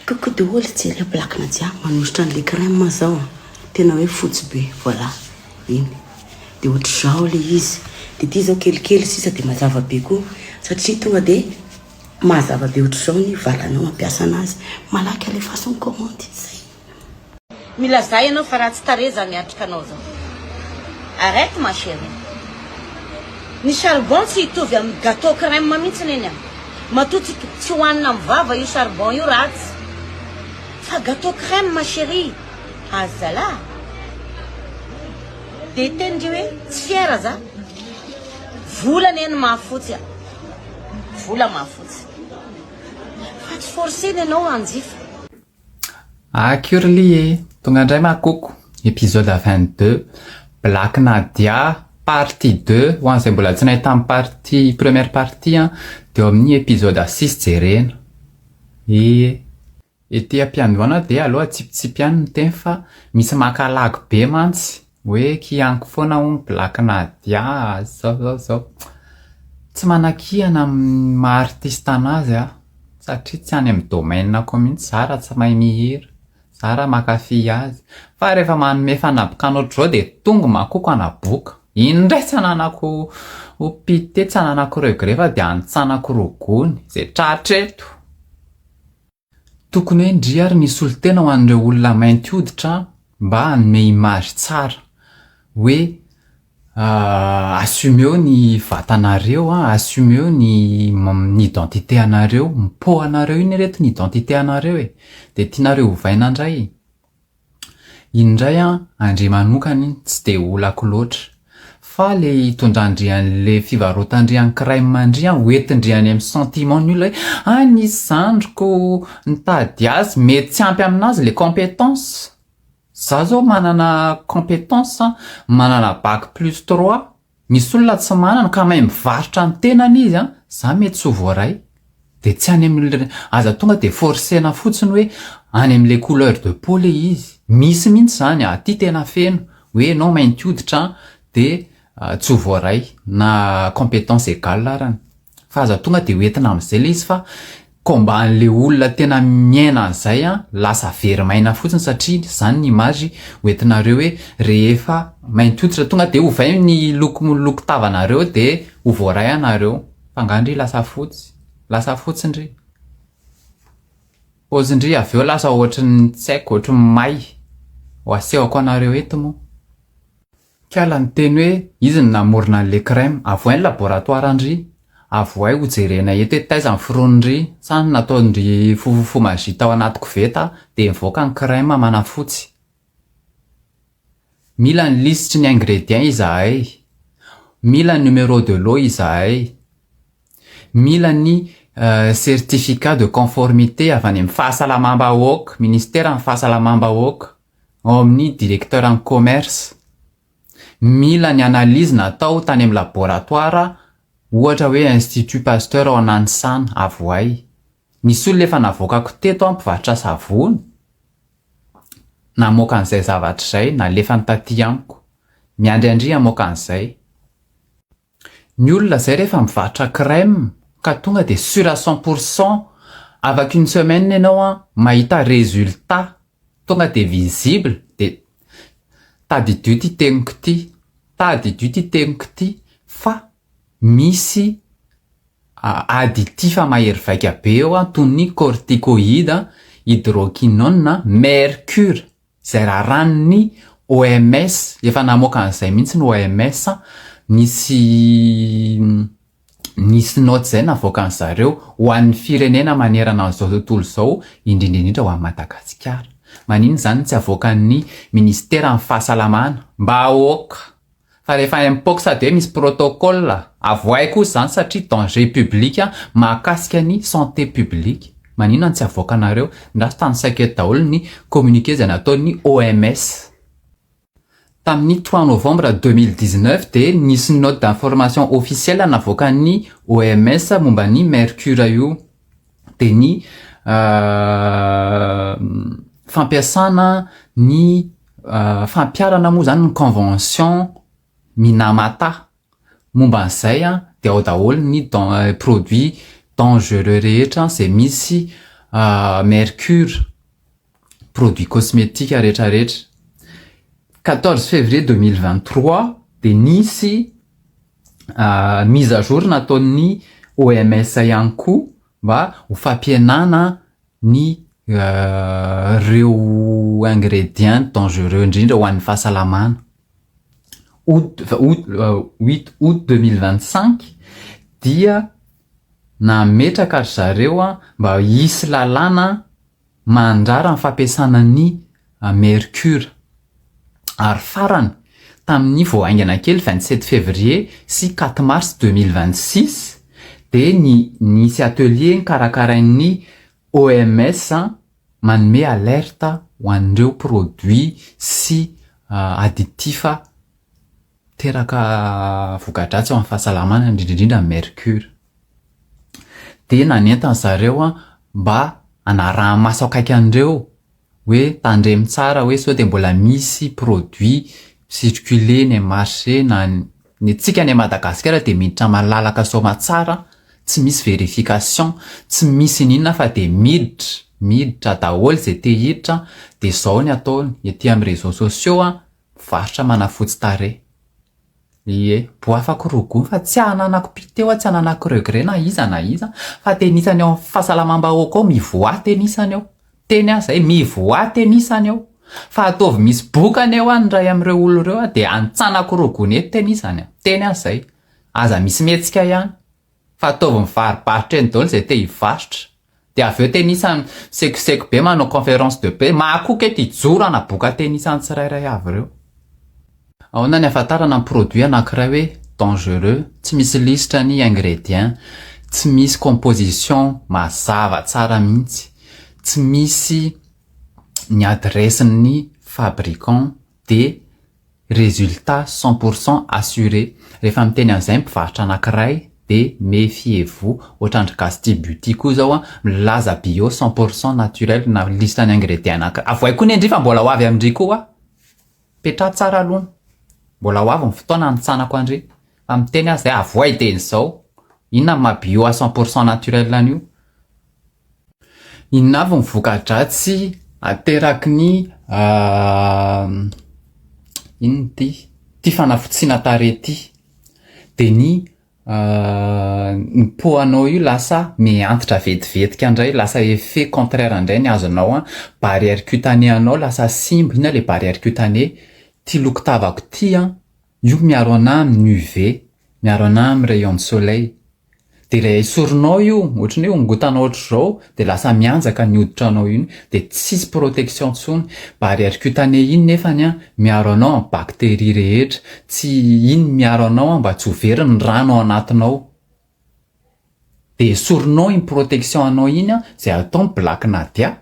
Coucou daholo jereo eh black na jiaby manositra anle crème zao a tena hoe fotsy be voilà iny de otrzao le izy de ty zao kelikely sisa de mazava be koa satria tonga de mazava be otrzao ny valanao ampiasa anazy malaky alefaso ny commande zay. Milazà ianao fa ratsy tarehy zany atrikanao zao. Arrête ma cherie. Ny charbon tsy hitovy amin'ny gateau crème mihitsy neny a. Matoa tsy tsy hohanina amin'ny vava io charbon io ratsy. Fa gateau crème ma cherie. Azy zalah. Dia hiteny ndry hoe tsy fier za. Vola neny mahafotsy a. Vola mahafotsy. Fa tsy forcer ny anao hanjifa. Ah Curly e! Tonga indray ma koko! Episode vingt deux, Black Nadia partie deux, ho an'izay mbola tsy nahita ny partie première partie an, dia eo amin'ny episode six jerena. Ee. Ety am-piandohana dia aleo atsipitsipy ihany ny teny fa misy maka lagy be mantsy. Hoe kihaniko foana hono Black Nadia zao zao zao. Tsy manakihana amin'ny maha artiste anazy aho satria tsy any amin'ny domaine-ko mihitsy za raha tsy mahay mihira, za raha makafy azy. Fa rehefa manome fanabokana ohatr'izao dia tongo makoko hanaboka. Iny indray tsy ananako pite, tsy ananako regret fa dia anintsanako rogony. Izay tratra eto. Tokony hoe ndry ary ny solontena ho an'ireo olona mainty hoditra mba hanome image tsara hoe assumeo ny vatanareo an, assumeo ny ny identité anareo, mipoaha anareo iny reto ny identité anareo e, dia tianareo ovaina ndray. Iny indray an andry manokana iny tsy dia olako loatra fa le itondrandry anle fivarotandry an crème ndry an ho entindry any am sentiment ny olona hoe ah nisy zandriko nitady azy mety tsy ampy aminazy le competence za zao manana competence an manana bac plus trois Misy olona tsy manana ka mahay mivarotra ny tenany izy an, za mety tsy ho voaray de tsy any amle aza tonga de forcena fotsiny hoe any amle couleur de peau le izy, misy mihitsy zany aty tena feno hoe enao mainty hoditra an de tsy ho voaray na competence egal arany fa aza tonga de ho entina amzay le izy fa Combat anle olona tena miaina an'izay an, lasa very maina fotsiny satria izany ny image hoentinareo hoe rehefa mainty hoditra tonga dia ovay ny loko loko tavanareo dia ho voaray anareo fa nga ndry lasa fotsy lasa fotsy ndry pose ndry avy eo lasa ohatrin'ny tsy haiko ohatrin'ny may ho asehoko anareo eto moa Kala niteny hoe izy no namorona an'i le crème. Avohay ny laboratoire an-dry. Avohay ho jerena eto hoe taiza ny foronondry. Sa ny nataon-dry fofofo magie tao anaty koveta dia nivoaka ny crème manafotsy. Mila ny lisitry ny ingredients izahay. Mila ny numéro de lot izahay. Mila ny certificat de conformité avy any amin'ny fahasalamam-bahoaka, ministeran'ny fahasalamam-bahoaka. ao amin'ny Directeur en Commerce. Mila ny analyse natao tany amin'ny laboratoire ohatra hoe Institut Pasteur ao Nanisana, Avoay. Nisy olona efa navoakako teto an mpivarotra savony, namoaka an'izay zavatra izay, nalefany taty amiko. Miandry an-dry hamoaka an'izay. Ny olona zay rehefa mivarotra crème ka tonga dia sur à cent pour cent avec une semaine ianao an mahita résultat tonga dia visible dia tadidio ity teniko ity tadidio ity teniko ity fa misy additif mahery vaika be eo an toy ny corticoïde, hydroquinone, mercure Izay raràn'ny OMS, efa namoaka an'izay mihitsy ny OMS an, nisy nisy naoty izay navoakan'ny zareo ho an'ny firenena manerana an'izao tontolo izao, indrindra indrindra ho an'i Madagasikara. Maninona izany no tsy avoakan'ny minisiteran'ny fahasalamana mba aoka. Fa rehefa mpox dia misy protocole, avoahy kosa izany satria danger public mahakasika ny santé publique. Maninona no tsy avoakanareo? Ndraso tany saika daholo ny communiqué izay nataon'ny OMS. Tamin'ny trois novembre deux mille dix-neuf dia nisy note d'information officielle navoakan'ny OMS momba ny mercure io. dia ny fampiasana ny fampiharana moa izany ny convention minamata momba an'izay an dia ao daholo ny produit dangereux rehetra izay misy mercure produit cosmetique retraretra quatorze février deux mille vingt trois dia nisy mise à jour nataon'ny OMS ihany koa mba ho fampihenana ny ireo ingredients dangereux indrindra ho an'ny fahasalamana. Août août huit août deux mille vingt cinq dia nametraka ry zareo mba hisy lalàna Mandrara ny fampiasana ny mercure. Ary farany, tamin'ny vao haingana kely vingt sept février sy quatre mars deux mille vingt six dia ny nisy atelier nikarakarain'ny OMS manome alerte ho an'ireo produits sy additifs Miteraka voka-dratsy eo amin'ny fahasalamana indrindra indrindra ny mercure. Dia nanentan-dry zareo mba hanaraha-maso akaiky an'ireo hoe tandremo tsara hoe sao dia mbola misy produit mi-circuler eny amin'ny marché na ny antsika any Madagasikara dia miditra malalaka soamatsara tsy misy verification, tsy misy ininona fa dia miditra, miditra daholo izay te hiditra dia izao ny ataony ety amin'ny réseaux sociaux Varotra manafotsy tarehy. Ie. Boafako roa gony fa tsy ananako mpite oa tsy ananako regret na iza na iza fa tenisany eo am fahasalamam-bahoaka ao mivoaha tenisany eo. Teny aho zay, mivoaha tenisany eo. Fa ataovy misy bokany eo an ny ray am reo olona reo an dia antsanako roa gony eto tenisany an. Teny aho zay. Aza misy mihetsika ihany. Fa ataovy mivaribaritra eny daholo izay te hivarotra. Dia avy eo tenisany sekoseko be manao conférence de presse. Mahakoka eto hijoro hanaboaka tenisany tsirairay avy ireo. Ahoana ny ahafantarana ny produit anankiray hoe dangereux? Tsy misy lisitra ny ingrédients, tsy misy composition mazava tsara mihitsy, tsy misy ny adresse ny fabricant dia. Résultat cent pour cent assuré, rehefa miteny an'izay ny mpivarotra anankiray dia méfiez vous, ohatran-dry gasy tia beauty koa izao an, milaza bio cent pour cent naturel na lisitra ny ingrédients anankiray, avohay koa anie ndry fa mbola ho avy amin-dry koa hoa, petraho tsara aloha ny, mbola ho avy ny fotoana hanitsanako an-dry, fa miteny aza izay avohay dia izao, inona ny maha bio à cent pour cent naturel an'io, Inona avy ny voka-dratsy ateraky ny inona ity ity fanafotsiana tarehy ity? Dia ny ny poanao io lasa mihantitra vetivetika indray, lasa effet contraire indray ny azonao an, barrière cutanée anao lasa simba, inona ilay barrière cutanée? Ity loko tavako ity an! Io miaro anà amin'ny UV, miaro anà amin'ny rayon de soleil. Dia ilay esorinao io, ohatra ny hoe hongotanao ohatr'izao, dia lasa mihanjaka ny hoditranao iny, dia tsisy protection intsony. Barrière cutanée iny nefany an, miaro anao amin'ny bactéries rehetra. Tsy, iny miaro anao an mba tsy ho very ny rano ao anatinao. Dia esorinao iny protection anao iny an, izay atao ny black nadia.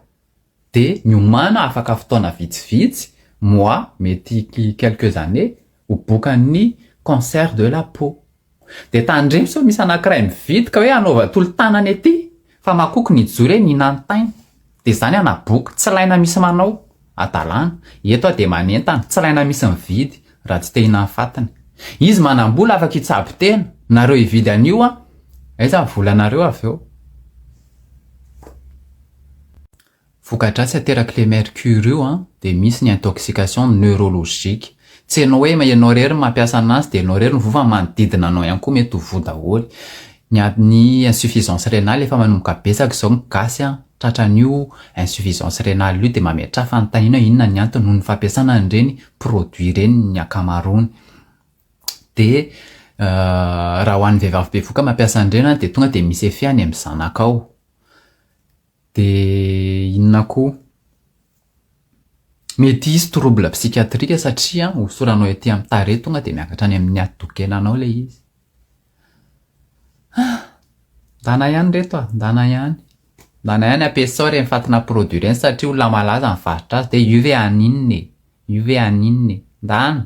Dia miomàna afaka fotoana vitsivitsy, mois, mety quelques années, ho bokan'ny cancer de la peau. Dia tandremo sao misy anankiray mividy ka hoe anaova tolo-tanana ety fa makoky ny jour eny hinantaina. Dia izany hanaboka, tsy ilaina misy manao. Adalàna. Eto aho dia manentana, tsy ilaina misy mividy raha tsy te hinanfatiny. Izy manam-bola afaka hitsabo tena, nareo hividy an'io an! Aiza ny volanareo avy eo? Vokadratsy aterak'ilay mercure io an, dia misy ny intoxication neurologique. Tsy ianao hoe ianao irery no mampiasa anazy dia ianao irery no voa fa ny manodidina anao ihany koa mety ho voa daholo. Ny ny insuffisance rénale efa manomboka betsaka izao ny gasy an, tratran'io insuffisance rénale io dia mametraha fanontaniana hoe inona ny antony noho ny fampiasana an'ireny produits ireny ny ankamaroany. dia raha ho an'ny vehivavy bevoka mampiasa an'ireny an, dia tonga dia mi-CFE any amin'ny zanakao. Dia inona koa? Mety hisy trouble psychiatrique satria hosoranao ety amin'ny tarehy tonga dia miakatra any amin'ny hati-doha-kenanao ilay izy. Haa! Ndana ihany ireto a! Ndana ihany! Ndana ihany ampiasao ireny fatina produits ireny satria olona malaza mivarotra azy dia io ve haninona e? Io ve haninona e? Ndana!